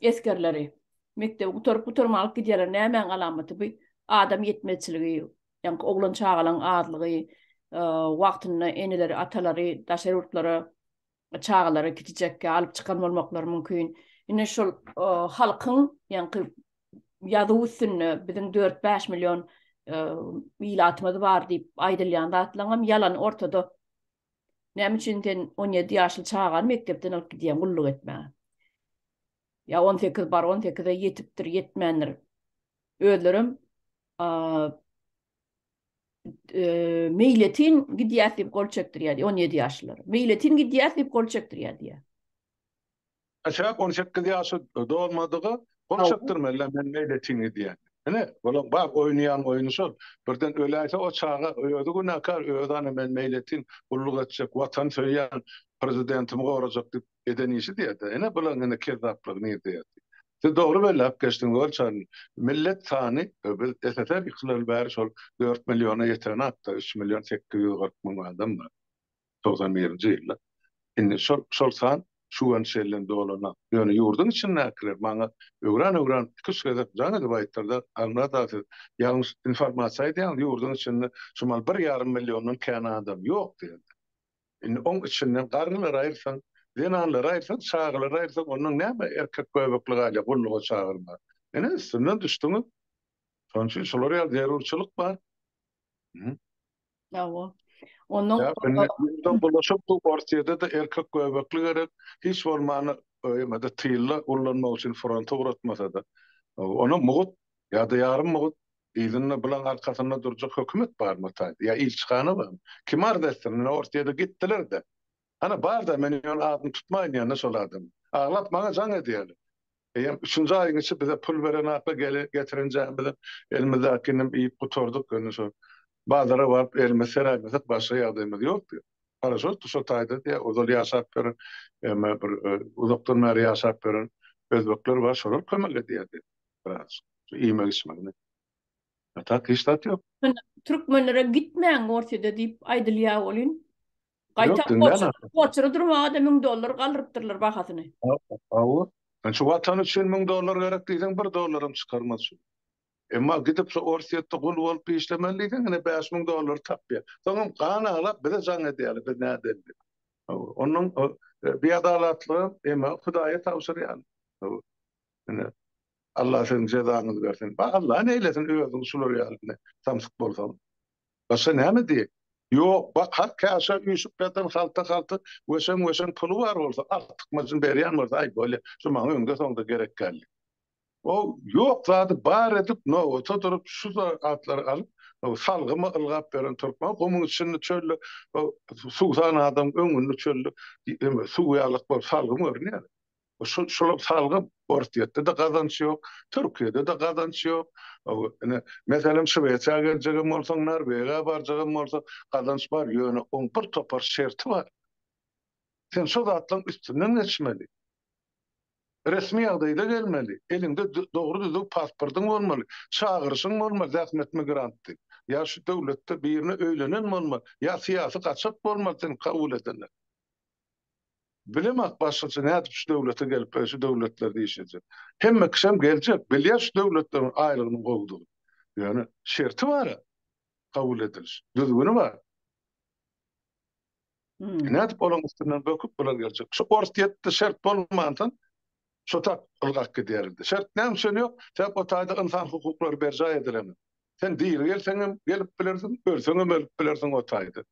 Esgerleri mekdebi gutaryp gutarman alyp gidýärler. Nämäň alamaty bu? Adam ýetmezçiligi, ýa-da oglan çagalaryň azlygy, wagtynda eneleri, atalary daşary ýurtlara çagalary kiçijekkä alyp çykan bolmaklary mümkin. Ine şol halkyň ýaňky ýazuw üstünde biziň dört-bäş million ilatymyz bar diýip aýdylýan zatlaňam ýalan ortada. Näme üçin sen on ýedi ýaşly çagany mekdepden alyp gidýäň gulluk etmäge? Ýa on sekiz bar, on sekize ýetipdir, ýetmändir. Özlerem meýletin gidýäs diýip gol çekdirýär diýýär, on ýedi ýaşlylar. Meýletin gidýäs diýip gol çekdirýär diýýär. Aşak on sekiz ýaşy dolmadygy gol çekdirmeli, men meýletin gidýän. Ine, olaň bar oýnaýan oýny şol. Birden öläýse o çaga özi günäkär, özi ana men meýletin gulluk etjek, watan söýýän, prezidentimi gorajak diýip eden işi diýýär-de. Ine bulaň indi kezzaplygy nirde ýatyr. Siz dogry belläp geçdiňiz Olçary. Millet sany biz SSR ýykylaly bäri şol dört milliona ýetenakda, üç million sekiz ýüz kyrk müň adam bar. Togsan birinji ýylda. Indi şol şol san şu gün şeýle dolanak. Ýöne ýurduň içindäkiler maňa öwran öwran iki üç gezek jaň edip aýtdyrlar, Aňnada siz ýalňyş informasiýa aýdýaňyz, ýurduň içinde şumal bir ýarym milliondan kän adam ýok diýen. Indi oň içinden garrylary aýyrsaň, zenanlary aýyrsaň, çagalary aýyrsaň, ondan näme erkek göbekli galýar, gulluga çagyrma. Ine, üstünden düşdüňiz. Şonuň üçin şular ýaly zerurçylyk bar. Hü. Hawa. Ondan Ýa, indi ýurda bulaşyp, bu Orsýede-de erkek göbekli gerek, hiç bolmanda, öýüňe-de tylla ullanmak üçin fronta ugratmasa-da. Onam mugut, ýa-da ýarym mugut, Yzynda bulan arkasynda durjak hökümet barmy ataýyn? Ýa ilçihana barmy? Kim arz etsin? Ine Orsýede gitdiler-de. Hany bar-da men ýöne adyny tutmaýyn ýa-da şol adamyň. Aglap maňa jaň edýärler. Eýýäm üçünji aýyň içi bize pul berenakly gelen getirenjämizem elimizdäkininem iýip gutardyk ýöne şo bazara baryp elimizi seräýmedik başga ýagdaýymyz ýokdy. Paraşotdy şo taýda diýýär ozal ýaşap ýören emma bir uzakdan bäri ýaşap ýören özbekler bar şolar kömek edýär diýýär. biraz iýmek içmek ne. A tak hiç zat ýok. Türkmenlere gitmäň Orsýede diýip aýdylýar welin, gaýta Orsýede durmaga-da müň dollar galdyrypdyrlar bahasyny. Hawa, şu watan üçin müň dollar gerek diýseň bir dollaram çykarmaz şu. Emma gidip şu Orsýetde gul bolup işlemeli diýseň ine bäş müň dollary tapýar. Soňam gan aglap bize jaň edýärler biz nädendi. Hawa, onuň biadalatlygy emma Hudaýa tabşyrýan. Hawa. Ine, Allah siziň jezaňyzy bersin. Ba, Allah neýlesin, özüň şular ýaly ine, samsyk bolsaň. Başga näme diýeýin? Ýok, ba, har käşä üýşüp ýatan halta-halty weşeň-weşeň puly bar bolsa, artykmajyny berýän bolsa, aý, bolýa, şu maňa öňde-soňda gerek däldi. O, ýok zady bar edip, nobata durup, şu za, atlary alyp, o, salgyma ylgap beren türkmen, gumuň içinde, çölde, o, suwsan adamyň öňünde çölde, ýeme, suw ýalyk bolup, salgym görünýär. Şol şolar salgy Orsýetde-de gazanç ýok, Türkiýede-de gazanç ýok. Ine, meselem Şwesiýa geljegem bolsaň, Norwegiýa barjagam bolsaň, gazanç bar, ýöne oň bir topar şerti bar. Sen şo zatlaryň üstünden geçmeli. Resmi ýagdaýda gelmeli, eliňde dogry düzüw pasportyň bolmaly, çagyryşyň bolmaly zähmet migrant diýip. Ýa şu döwletde birine öýlenen bolmaly, ýa syýasy gaçak bolmaly seni kabul edenler. Bilemok başgaça nädip şu döwlete gelip e, şu döwletlerde iş edjek. Hemme kişem geljek, bilýär şu döwletleriň aýlygynyň gowudygyny. Ýöne şerti bar-a kabul ediliş, düzgüni bar. Hmm. Nädip olaň üstünden böküp bular geljek. Şu ors ýetdi şert bolmandan şu tak ylgak gidýärdi. Şert näme üçin ýok? Sebäp o taýda ynsan hukuklary berjaý edilenmi? Sen diri gelseň hem gelip bilersiň, ölseň hem ölüp bilersiň o taýda.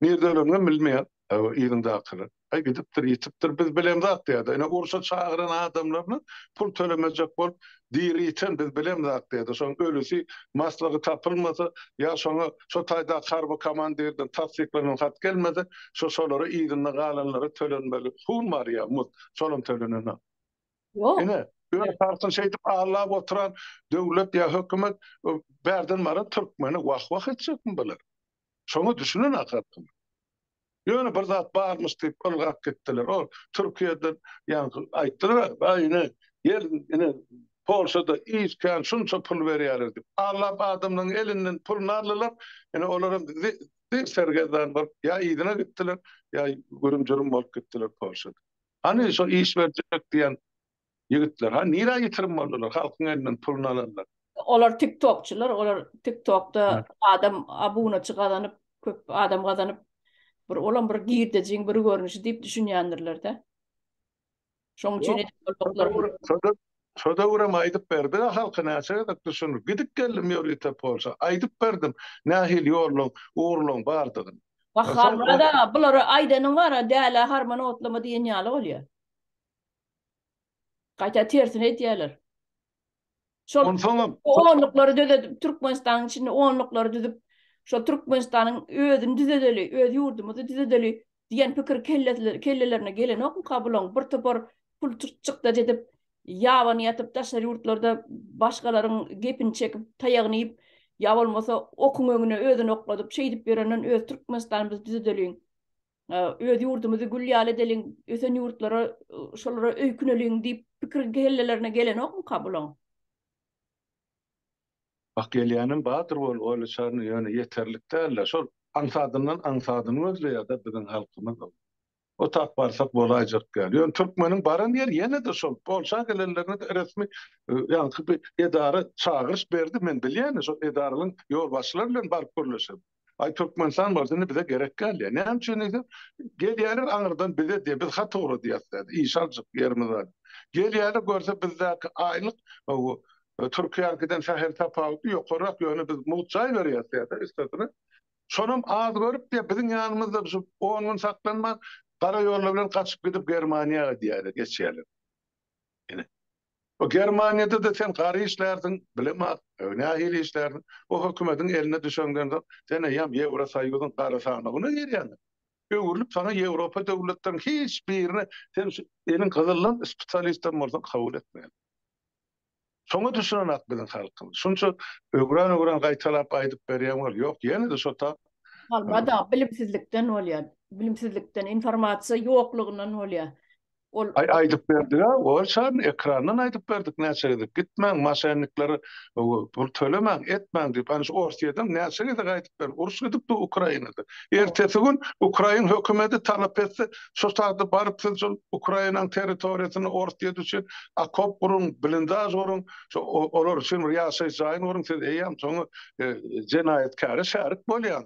Nirdeleriňem bilmeýän yzyňdakylar. Aý gidipdir, ýitipdir, biz bilemz ak diýýärdi. Ine urşa çagyran adamlaryna pul tölemejek bolup, diri ýiten biz bilemz ak diýýärdi. Şoň ölüsi maslygy tapylmasa, ýa şoňa şo taýdaky harby komandirden tassyklanan hat gelmese, şo şolara yzynda galanlara tölenmeli pul bar ýa muz, şolam tölenenok. Ine, öz halkyny şeýdip allap oturan döwlet ýa hökümet bärden baran türkmeni wah-wah etjekmi bular? Şoňa düşünen ahatyn. Ýöne bir zat barmyş diýip ylgap gitdiler. Ol Türkiýeden ýaňky aýtdylar, Aý ine, gel ine Polşada iş kän şunça pul berýärler diýip. Allap adamlaryň elinden puluny aldylar. Ine olaram zir sergezdan bolup ýa yzyna gitdiler, ýa gürüm-jürüm bolup gitdiler Polşada. Hany şo iş berjek diýen Ýigitler ha nirä ýitirim boldular halkyň elinden puluny alanlar. Olar tik tokçylar olar tik tokda adam abunaçy gazanyp köp adam gazanyp bir olam bir girdejiň bir görnüşi diýip düşünýändirlerde. Şoň üçin edip Şo döwürem aýdyp berdik a halka näçe gezek düşündirip gidip geldim ýörite polşa aýdyp berdim nähili ýollaň ugurlaň bardygyny. Wah Harmyrat aga bulary aýdanyň bara dälä harman otlama diýen ýaly bolýa. Gaýta tersini aýdýarlar. Şol Onsoňam onluklary döredip, Türkmenistanyň içinde onluklary düzüp, şol Türkmenistanyň özüni düzedeli, öz ýurdumyzy düzedeli diýen pikir kellelerine gelenokmyka bulaň? Bir topar pul çykdajy edip, ýabany ýatyp, daşary ýurtlarda başgalaryň gepini çekip, taýagyny iýip, ýa bolmasa okuň öňüne özüni okladyp, şeýdip ýörenden öz Türkmenistanymyzy düzedeliň. öz ýurdumyzy gül ýaly edeliň, ösen ýurtlara, şolara öýküneliň diýip pikir kellelerine gelenokmyka bulaň? Bak gelýänem bardyr ol oýluçaryna ýöne ýeterlik dälde şol aňsadyndan aňsadyny gözleýärde biziň halkymyz ol. O tap barsak bolaýjak däl. Ýöne türkmeniň baran ýeri ýene-de şol. Polşa gelenlerine-de resmi ýaňky bir edara çagyryş berdi. Men bilýän-de şol edaralaň ýolbaşçylary bilen baryp gürleşerin. Aý Türkmenistan bolsa indi bize gerek däl ýa. Näme üçin diýse, gelýärler aňyrdan bize diýýär, biz hat ugradýas diýýär, iş aljak ýerimiz bar. Gelýärler görse bizdäki aýlyk Türkiýäňkiden sähel tapawutly ýokarrak ýöne biz mugt jaý berýäs diýýär üstesine. Şonam az görüp diýýär, biziň ýanymyzda şu on gün saklanman gara ýollar bilen gaçyp gidip Germaniýa diýýär geçýärler. Ine, bu Germaniýada-da sen gary işlärsiň, bilemok, nähili işlärsiň, bu hökümediň eline düşeňden soň, sen eýýäm Ýewrosoýuzyň gara sanawyna girýäň. Öwrülip saňa Ýewropa döwletleriniň hiç birine sen şu eliň gyzyllan spesialist hem bolsaň kabul etmeýär. Şoňa düşünenak biziň halkymyz. Şunça öwran-öwran gaýtalap aýdyp berýän bolup, ýok, ýene-de şo tap. Alba-da, bilimsizlikden bolýar. Bilimsizlikden, informasiýa ýoklugyndan bolýar. Ol Aý aýdyp berdiga ol çaryny ekrandan aýdyp berdik näçe gezek gitmäň maşenniklere pul tölemäň etmäň diýip aniş orsiýeden näçe gezek aýdyp berdik uruş gidipdi ukrainada ertesi gün ukrain hökümedi talap etse şu sagda baryp siz şol ukrainaň territoriýasyny orsiýa düşün akop guruň blindaž guruň şu olar üçin bir ýaşaýyş jaýyny guruň siz eýýäm soňy e, jenaýatkäre şärik bolýaň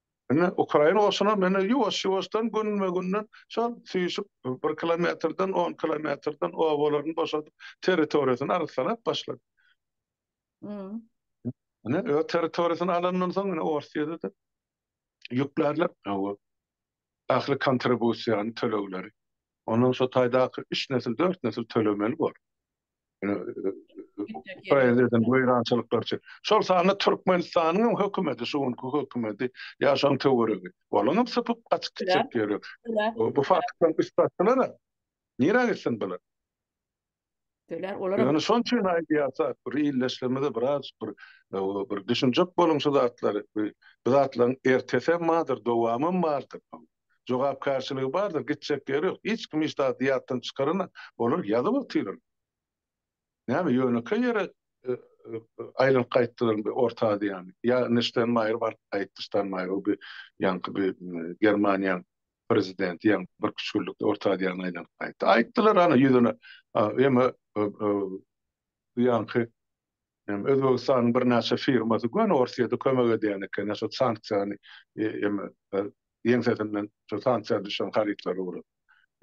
Indi ukrain goşuny meni ýuwaş-ýuwaşdan günbe-günden şol süýşüp bir kilometrden, on kilometrden obalaryny boşadyp, territoriýasyny arassalap başlady. Ine, öz territoriýasyny alandan soň ine Orsýede-de ýüklärler bu ähli kontribusiýany, tölegleri. Ondan şo taýdaky üç nesil, dört nesil tölemeli bor. Poeziýadan weýrançylyklar çek. Şol sanda Türkmenistanyň hem hökümeti, şu günki hökümeti ýa şoň töweregi. Olaň hem sypyp gaçyp gitjek ýeri ýok. Bu faktdan üstaşdylar-a. Nirä gitsin bular? Ýöne şoň üçin aýdýarsak, bir ildeşlerimize biraz bir bir düşünjek boluň şu zatlary. Bu zatlaryň ertesi hem bardyr, dowamy hem bardyr. jogapkärçiligi bardyr, gitjek ýeri ýok. Hiç kim hiç zady ýatdan çykarana, olar ýazyp otyrlar. Näme, ýönekeý ýere aýlanyp gaýtdylarmy Orta Aziýany? Ýa Nştenmaýer baryp gaýtdy, Ştanmaýer, o bir ýaňky bir Germaniýanyň prezidenti ýaňy birki üç günlükde Orta Aziýany aýlanyp gaýtdy. Aýtdylar, ana, ýüzüne, emma bu ýaňky Hem Özbegistanyň birnäçe firmasy göni Orsyýada kömek edýän eken, ýa şo sanksiýany em ýeňsesinden şo sanksiýa düşen harytlary ugrap.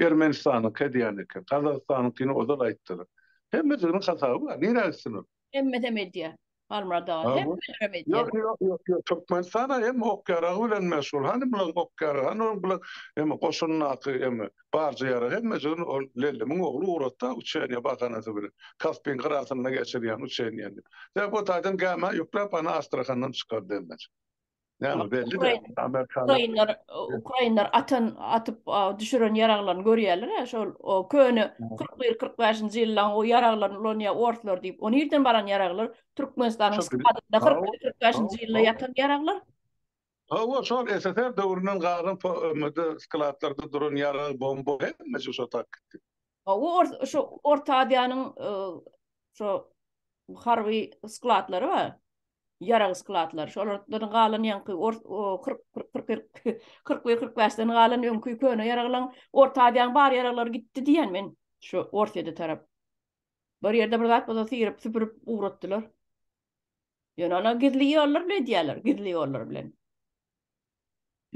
Ermenistanyňky edýän eken, Gazagystanyňkyny ozal aýtdylar. Hemmesiginiň hasaby bar, nirä gitsin ol? Hemmesem edýär, Halmyrat aga, hemmelerem edýär. Ýok, ýok, ýok, Türkmenistan-a hem ok-ýaragy bilen meşgul. Hany bularyň ok-ýaragy, hany bularyň em goşundaky em. Barja ýarag hemmejigini ol Lellimiň ogly ugratdy-a uçeniýe bahanasy bilen, Kaspiň gyrasynda geçirýän uçeniýeni diýip. Sebäbi o taýdan gämä ýükläp, ana Astrahandan çykardy hemmejik. Näme, belli däl, amerikanlar. Ukrainler, ukrainler atan, atyp düşüren ýaraglaryny görýärler-ä, şol o köne kyrk bir, kyrk bäşinji ýyllaryň o ýaraglaryny ulanýar orslar diýip. O nirden baran ýaraglar? Türkmenistanyň skladynda kyrk bir, kyrk bäşinji ýylda ýatan ýaraglar. Hawa, şol SSR döwründen galan POM-de skladlarda duran ýarag, bomba hemme şu şotak gitdi. Hawa, şu Orta Aziýanyň şu harby skladlary bar, ýarag skladlary, şolardan galan ýaňky ors kyrk bir kyrk bäşden galan öňki köne ýaraglaň Orta Aziýanyň bar ýaraglary gitdi diýýän men şu Orsýede tarap. Bir ýerde bir zat bolsa syryp-süpürip ugratdylar. Ýöne ony gizli ýollar bilen edýärler, gizli ýollar bilen.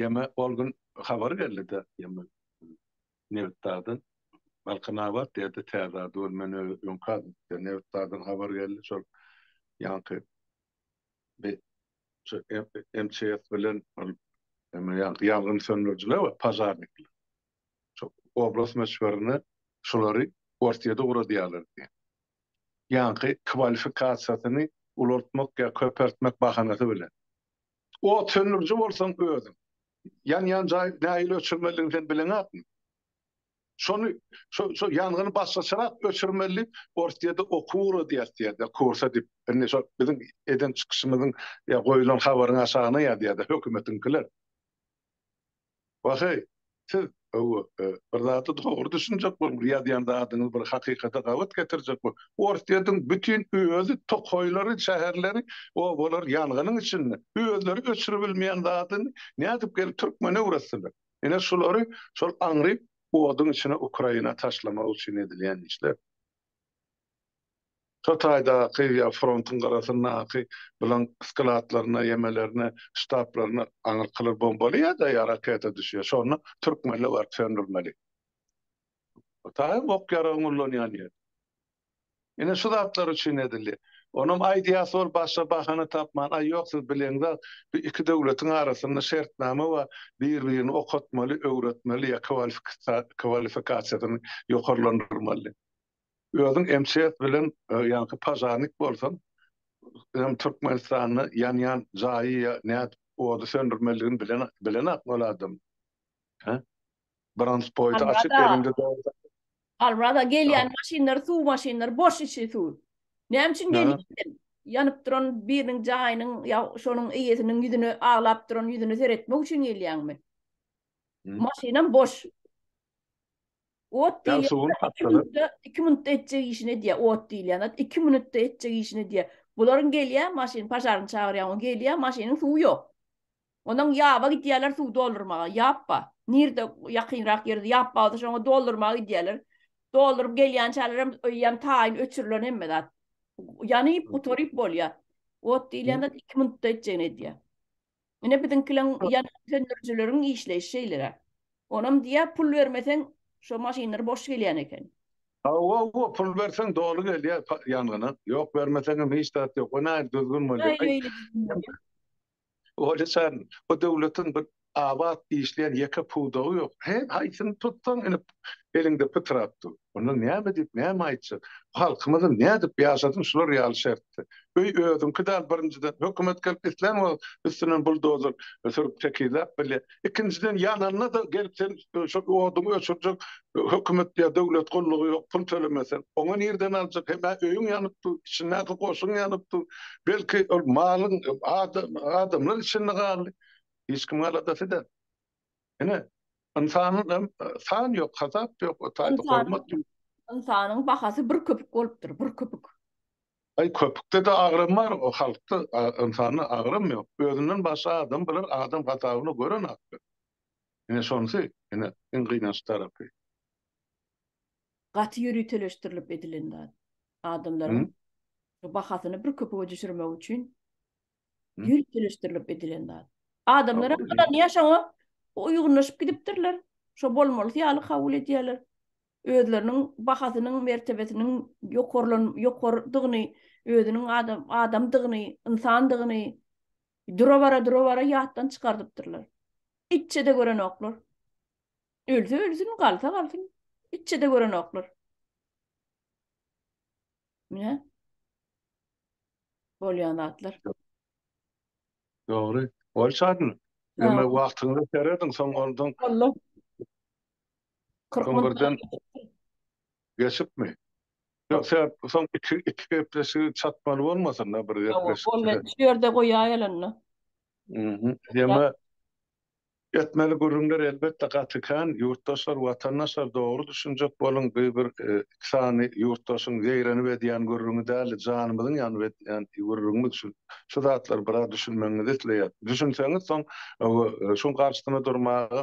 Ýeme ol gün habar geldi-de, ýeme Nebitdagdan Balkanabat diýdi, täze ady bolup men öňki ady diýdi. Nebitdagdan habar geldi, şol ýaňky bi şu MÇS bilen ol ýaňky ýangyn söndürijiler we pažarnikler. şo oblast möçberine şolary Orsýede ugradýarlar diýýär. Ýaňky kwalifikasiýasyny ulaltmak ýa köpeltmek bahanasy bilen. Ot söndüriji bolsaň özüň. Ýanýan jaý nähili öçürmelidigini sen bileňakmy? Şony şo şo ýangyny başgaçarak öçürmeli, Orsýede okuw ugradýas diýýärdi, kursa diýip. Indi şo biziň eden çykyşymyzyň ýa goýulan habaryň aşagyna ýazýardy hökümetiňkiler. Waheý, siz, hawa, bir zada dogry düşünjek boluň, ýazýan zadyňyz bir hakykata gabat getirjek boluň. Orsýetiň bütin özi tokaýlary, şäherleri, obalary ýangynyň içinde. Özleri öçüribilmeýän zadyny nädip gelip türkmene öwretdiler? Ine şulary şol aňryk oduň içine Ukraina taşlamak üçin edilýän işler. Şo taýdaky ýa frontuň gyrasyndaky bilan skladlaryna, ýemelerine, ştablaryna aňyrkylar bombaly ýa-da ýa raketa düşýär. Şonda türkmenler baryp söndürmeli. Bu taýy ok-ýaragyň ullanýan ýeri. Ine şu zatlar üçin edildi. Onam aýdýasy bolup başga bahana tapman, aý ýok siz bileňzak, bu iki döwletiň arasynda şertnama bar, bir-birini okatmaly, öwretmeli ýa kwalifikasiýasyny ýokarlandyrmaly. Özüň MCS bilen ýaňky pažarnik bolsaň hem Türkmenistanda ýanýan jaýy ýa nädip ody söndürmeligini bilen bilenok ol adam. Hä? Brandspoýty açyk elinde dogry. Alwrada gelýän maşynlar suw maşynlar boş içi suw. Näme üçin gelýän sen? Ýanyp duran biriniň jaýynyň ýa şonuň eýesiniň ýüzüne aglap duran ýüzüne seretmek üçin gelýäňmi? Maşynam boş. Ot diýýän Ýagşyguly zat iki Tapdalar. minutda, iki minutda etjek işini edýär. Ot diýilýän zat iki minutda etjek işini edýär. Bularyň gelýär maşyn, pažarny çagyrýaň, o gelýär, maşynyň suwy ýok. Ondan ýaba gidýärler suw doldurmaga. Ýap bar. Nirde ýakynrak ýerde ýap bar bolsa şoňa doldurmaga gidýärler. Dolduryp gelýänçäler hem öý hem taýyn öçürilen hemme zat. Ýanyp gutaryp bolýar. Ot diýilýän zat iki minutda etjegini edýär. Ine biziňkileriň ýangyn söndürijileriň işleýşi şeýleräk. Onam diýýär pul bermeseň şo maşynlar boş gelýän eken. Hawa-wa pul berseň doly gelýär ýangyna. Ýok bermeseňem hiç zat ýok. O nähili düzgün bolýar. Olja jan bu döwletiň bir abat işleýän ýeke pudagy ýok. Haýsyny tutsaň ine eliňde pytrap dur. Onda näme diýip, näme aýtjak? Halkymyzy nädip ýaşasyn şular ýaly şertde? Öý özüňki däl birinjiden. Hökümet gelip islän wagt üstünden buldozer sürüp tekizläp bilýär. Ikinjiden ýananda-da gelip sen şol oduňy öçürjek hökümet ýa döwlet gullugy ýok, pul tölemeseň. Oňa nirden aljak? Hem-ä öýüň ýanyp dur, içindäki goşuň ýanyp dur. Belki ol malyň adamlar içinde galdy. Hiç kimiň aladasy däl. Ine, ynsanyň hem san ýok, hasap ýok, o taýda hormat ýok. Ynsanyň bahasy bir köpük bolupdyr, bir köpük. Aý, köpükde-de agram bar, o halkda, ynsanda agram ýok. Özünden başga adam bular adam hasabyna görenoklar. Ine, şonusy, ine, iň gynanç tarapy. Gaty ýöriteleşdirilip edilen zat. Adamlaryň bahasyny bir köpüge düşürmek üçin Ýöriteleşdirilip edilen zat. Adamlar hem ynanyp ýaşaňa uýgunlaşyp gidipdirler. Şo bolmalysy ýaly kabul edýärler. Özleriniň bahasynyň, mertebesiniň ýokarlan, ýokardygyny, özüniň adam, adamdygyny, ynsandygyny dura-bara, dura-bara ýatdan çykardypdyrlar. Itçe-de görenoklar. Ölse ölsün, galsa galsyn. Itçe-de görenoklar. Mine. Bolýan zatlar. Dogry. Ol çadyny. Ýöne wagtyňda serediň, soň ondan. Boldy. Kyrkdan geçipmi? Ýok, sen soň iki iki gepleşigi çatmaly bolmasyn da bir gepleşik. Ýok, ol men şu ýerde goýaýalynda. Mhm. Ýöne Etmeli gürrüňler elbetde gaty kän ýurtdaşlar watandaşlar dogry düşünjek boluň bu bir iki sany ýurtdaşyň zeýrenip edýän gürrüňi däldi janymyzyň ýanyp edýän gürrüňimiz şu şu zatlar biraz düşünmegiňizi isleýäs düşünseňiz soň şuň garşysyna durmaga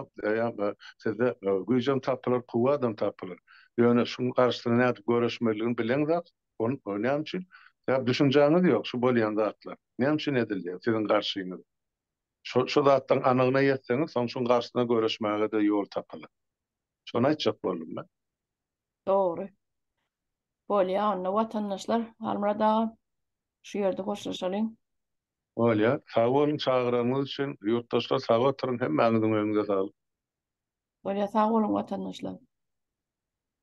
sizde güýjem tapylar kuwwadam tapylar ýöne şuň garşysyna nädip göreşmeligiň bileň zat ony näme üçin düşünjäňiz ýok şu bolýan zatlar näme üçin edilýär siziň garşyňyza. Şo-şo zatlaryň anygyna ýetseňiz, soň şuň garşysyna göreşmäge-de ýol tapylar. Şony aýtjak boldum men. Dogry. Bolýa onda, watandaşlar. Halmyrat aga, şu ýerde hoşlaşalyň. Bolýa. Sag boluň çagyranyňyz üçin. Ýurtdaşlar sag oturyň, hemmäňiziň öýüňize saglyk. Bolýa, sag boluň watandaşlar.